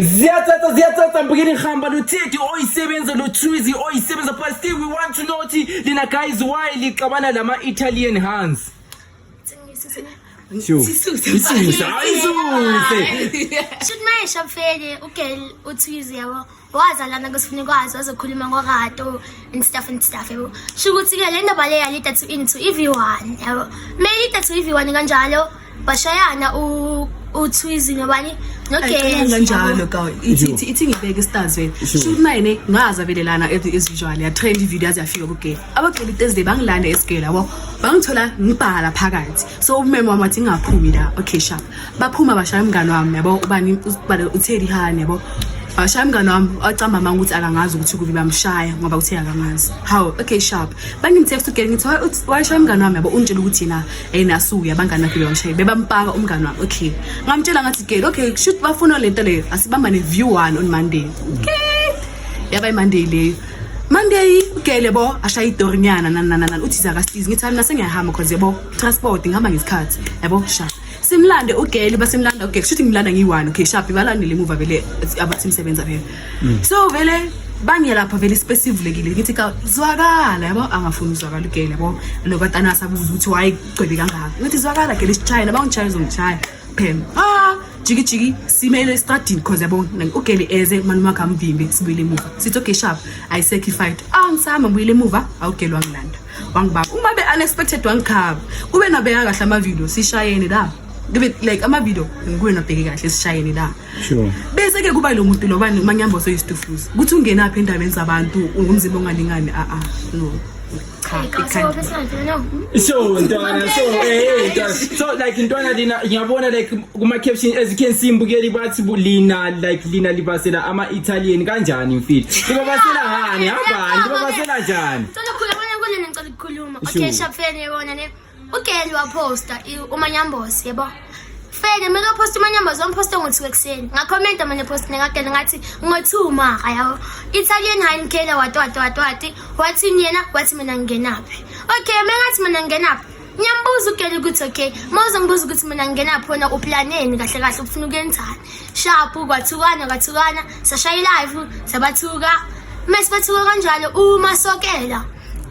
Ziyathatha ziyathatha mbukeni hamba lothedi oyisebenza lothuzi oyisebenza but still we want to know ukuthi lina guys why lixabana lama Italian hands. Sure. Isuse. Isuse. Should my shop fele ugel uthuzi yabo. wazalana kusifuna ikwazi wazokhuluma ngorato and stuff and stuff yabo sho ukuthi-ke le ndaba le yalida to into ev1 yabo meyilida to ev1 kanjalo bashayana u uthwizi nobani nogeza njalo ka ithi ithi ithi ngibeke stars wena sho mine ngaza velelana as usual ya trend video azi yafika kugela abagcela itezde bangilanda esigela yabo bangithola ngibhala phakathi so umeme wami wathi ngaphumi la okay sharp baphuma bashaya umngane wami yabo ubani usibale utheli hani yabo bashaya umngane wami wacamba manga ukuthi akangazi ukuthi kubi bamshaya ngoba uthe akangazi how okay sharp bangimtext ugela ngithi washaya umngane wami yabo ungitshela ukuthi yena hey nasuke abangani bakhe beyamshaya bebampaka umngani wami okay ngamtshela ngathi girl okay shoot bafuna lento leyo asibamba ne view one on monday okay yaba imonday leyo monday ugele bo ashaya idorinyana nananana uthi zakasizi ngithi mina sengiyahamba cause yabo transport ngihamba ngesikhathi yabo sha simlande ugele basimlanda ugele shoot ngimlanda ngiyi-one okay sharp balandele emuva vele abathi msebenza phela mm. so vele bangelapha vele ispace ivulekile ngithi ka zwakala yabo angafuni uzwakala ugele yabo lo batana asabuza ukuthi waye gcwebe kangaka ngithi zwakala gele sichayela bangishaya uzongishaya phem ah jiki jiki simele estradini cause yabo ugele eze mani wakhe amvimbe sibuyile emuva sithi okay sharp i sacrificed ah ngisama ngibuyile emuva awugele wangilanda wangibaba uma be unexpected wangikhaba kube nabeka kahle ama video sishayene la kube like ama video ngibuye nabheke kahle sishayene la sure bese ke kuba lo muntu lobani manyambo soyistufuza ukuthi ungena phi endabeni zabantu ungumzimba ongalingani a a no cha ikhanda so ntwana so eh ntwana so like ntwana lina ngiyabona like kuma caption as you can see mbukeli bathi bulina like lina libasela ama Italian kanjani mfili libabasela hani hambani libabasela njani Cela khuluma ngicela ukukhuluma. Okay, shapfeni yona ne. ugeli waposta umanyambosi yebo feke kumele uphoste umanyambosi wamphoste ngo-two ekuseni ngakhomenta manje post nekageli ngathi ngo-two mara yabo italian hinkela wati wati wati wati wathini yena wathi mina ngingenaphi okay me ngathi mina ngingenaphi ngiyambuza ugeli ukuthi okay ma uzongibuza ukuthi mina ngingenaphi wena uplaneni kahle kahle ufuna ukuyenzani shapu kwathukana kwathukana sashaya ilive sabathuka mese bathuka kanjalo uma sokela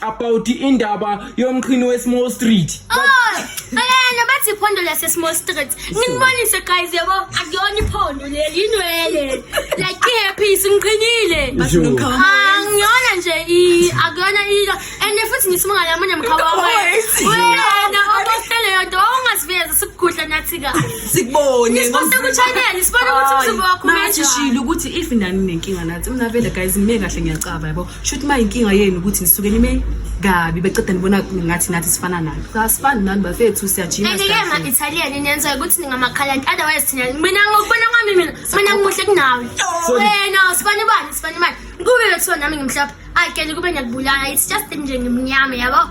about indaba yomqhini we-small street ayana bathi iphondo lase-small street nginibonise guys yabo akuyona iphondo leli inwele like ihappis ngiqinile angiyona nje i- akuyona ilo and futhi ngisimangalamunye mkhaba Always. wena obostele yonto ongaziveza sikugudla nathi kahle sikubone nisiposte kuchanel sibone ukuthi umzimba wakho umenjani. shilo ukuthi if nani nenkinga nathi mna vele guys ngime kahle ngiyacaba yabo Shuthi uma inkinga yenu ukuthi nisuke nime kabi beceda nibona ngathi nathi sifana nani. Asifani nani bafethu siyajima. And yeah, ma Italian inenza ukuthi ningamakhalani otherwise thina mina ngokubona kwami mina mina ngimuhle kunawe. Wena usifani bani usifani bani. Kube bethiwa nami ngimhlophe. Ayikele kube ngiyakubulala it's just nje ngimnyama yabo.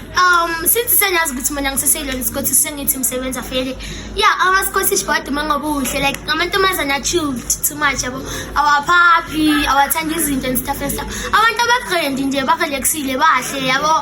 um since senyazi ukuthi mina ngiseseyilona isikhothi sengithi msebenzi afele ya amasikhothi ishibhadi uma ngoba uhle like amantombazane achilled too much yabo awaphaphi awathanda izinto and stuff and stuff abantu abagrendi nje barelaxile bahle yabo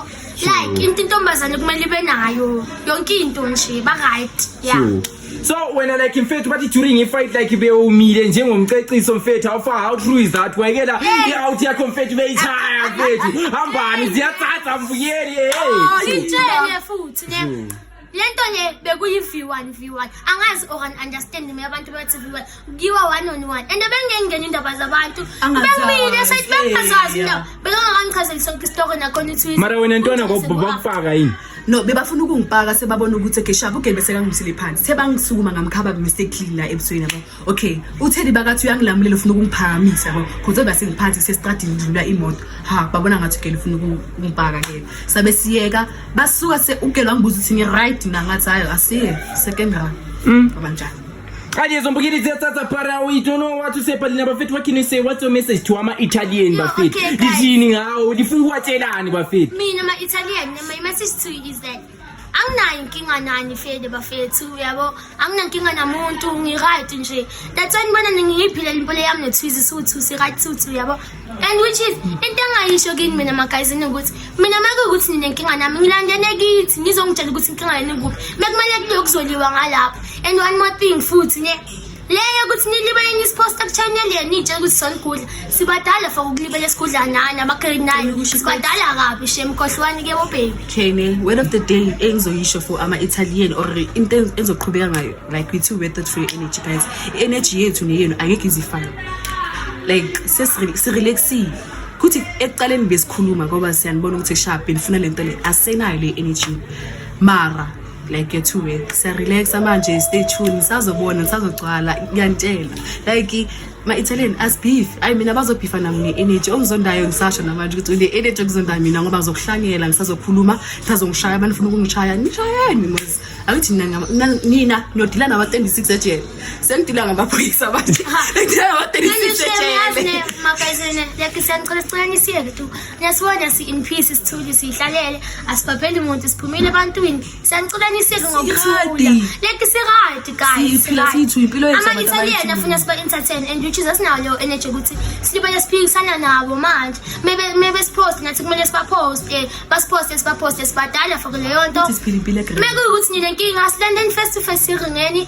like into intombazane kumele ibe nayo yonke into nje ba-right ya yeah. so wena like mfethu bathi during ifight like bewumile njengomceciso mfethu how far how true is that wayekela i-out yakho mfethu beyithaya mfethu hambani ziyatsatsa mvuyeli hey. Oh, litshele futhi ne lento nje bekuyi-v1 v1 angazi or an understand me abantu bathi v1 Ngiwa one on one. And bengengena indaba zabantu. Angazazi, Bengibile sathi bengazazi yeah. indaba. Bekangangichazeli sonke isitoko nakhona iTwitter. Mara wena ntwana Utshengise ngoba kwakho. bakufaka yini no bebafuna ukungipaka sebabona ukuthi okay shaba ugeli bese kangimisile phansi sebangisukuma ngamkhaba mistakenly la ebusweni yabo okay utheli bakathi uyangilamulela ufuna ukungiphakamisa yabo kodwa base ngiphansi sesitradini ngidlula imoto ha babona ngathi ugeli ufuna ukungipaka ke sabe siyeka basuka se ugeli wangibuza ukuthi ngi right mina ngathi hayi asiye second round mm. abanjani Kadi hizo mbugiri zia sasa para we don't know what to say but naba fetu wakini say what's your message to ama Italian ba fetu. Okay, Dijini ngao difungua chelani ba fetu. Mimi na ma Italian na my message to you is that anginayo inkinga nani fede bafethu uyabo anginankinga namuntu ngi-right nje that's why nibona ningiyiphile limpilo yami nethwizi siwuthusi right siwuthu uyabo and which is into angayisho kini mina magazini ukuthi mina make ukuthi ninenkinga nami ngilandele kithi nizongitshela ukuthi inkinga yenu kuphi mekumele kube kuzoliwa ngalapho and one more thing futhi ne leyo ukuthi nilibeleni isiposta kuchannel yenu itshe ukuthi sonigudla sibadala for ukulibela isigudla nani abagrade nine sibadala kabi shem khohlwani ke bobaby kene word of the day engizoyisho for ama-italian or into engizoqhubeka ngayo like we two wethe free energy guys i-energy yethu neyenu angeke izifane like sirelaxile kuthi ekuqaleni besikhuluma ngoba siyanibona ukuthi sharp nifuna le nto le asenayo le energy mara like get to work siyarelaxa manje stay tune nisazobona nisazogcwala ngiyantshela like ma-italian asbeef ayi mina bazobhifa nam ne-energy ongizondayo ngisasho namanje ukuthi une-energy okuzondayo mina ngoba zokuhlangela ngisazokhuluma ngisazongishaya abantu funa ukungishaya nishayeni mos akuthi nina nodila nawa-twenty-six ejele Sengidilwa ngamaphoyisa abantu. Ngidilwa ngamatekisi sejele. Mabhayizene yakhe siyanicela sicela nisiyeke tu. Niyasibona si in peace sithuli sihlalele asibhabheli umuntu siphumile ebantwini. Siyanicela nisiyeke ngokuthula. Leki si right guys. Siphila sithu impilo yethu abantu abayiphila. Amanye siyena funa siba entertain and which is asinawo leyo energy ukuthi silibele siphikisana nabo manje. Maybe maybe sipost ngathi kumele siba post eh basipost siba post sibadala for leyo nto. Mekuwukuthi nina inkinga silandeni face to face siringeni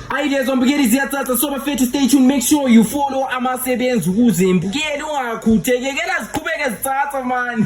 Ayi lezwa mbukeli ziyacaca so bafethu stay tuned make sure you follow amasebenzi ukuze mbukeli ungakhuthekekela ziqhubeke zicaca mani.